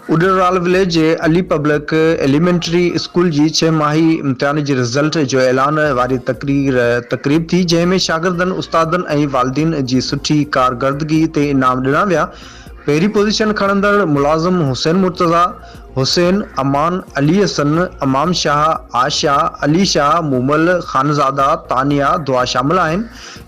اڏرال village جي Ali public elementary school جي ڇهه ماهي امتحان جي رزلٽ جو اعلان واري تقرير تقريب ٿي جنهن ۾ شاگردن استادن ۽ والدين جي سٺي ڪارگردگي تي انعام ڏنا ويا پهرين پوزيشن کڻندڙ ملازم حسين مرتضيٰ حسين امان علي حسن امام شاهه عاشا علي شاهه مومل خانزاده تانيا دعا شامل آهن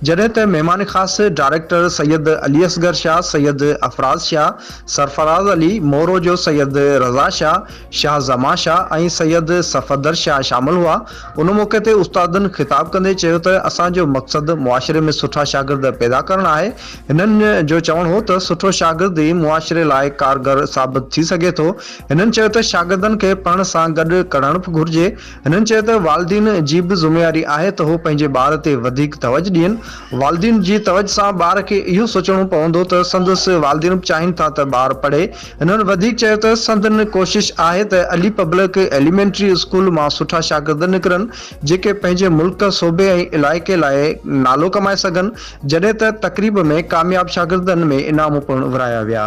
جڏهن ته مهمان خاص ڊائريڪٽر سيد علي اصغر شاهه، سيد افراز شاهه، سرفراز علي، مورو جو سيد رضا شاهه، شاهه زمان شاهه ۽ سيد صفدر شاهه شامل هئا. ان موقعي تي استادن خطاب ڪندي چيو ته اسان جو مقصد معاشري ۾ سٺا شاگرد پيدا ڪرڻ آهي. هنن جو چوڻ هو ته سٺو شاگرد ئي معاشري لاء ڪارگر ثابت ٿي سگهي ٿو. هنن چيو ته شاگردن کي پڙهڻ سان گڏ ڪڙڻ به گهرجي. هنن چيو ته والدين جي به ذميواري آهي ته هو پنهنجي ٻار تي وڌيڪ توجھ ڏين، والدين جي توجھ سان ٻار کي اهو سوچڻو پوندو ته سندس والدين به چاهين ٿا ته ٻار پڙهي، هنن وڌيڪ چيو ته سندن ڪوشش آهي ته علي پبلڪ ايليمينٽري اسڪول مان سٺا شاگرد نڪرن جيڪي پنهنجي ملڪ، صوبي ۽ علائقي لاء نالو ڪمائي سگھن، جڏهن ته تقريب ۾ ڪامياب شاگردن ۾ انعام پڻ ورهايا ويا.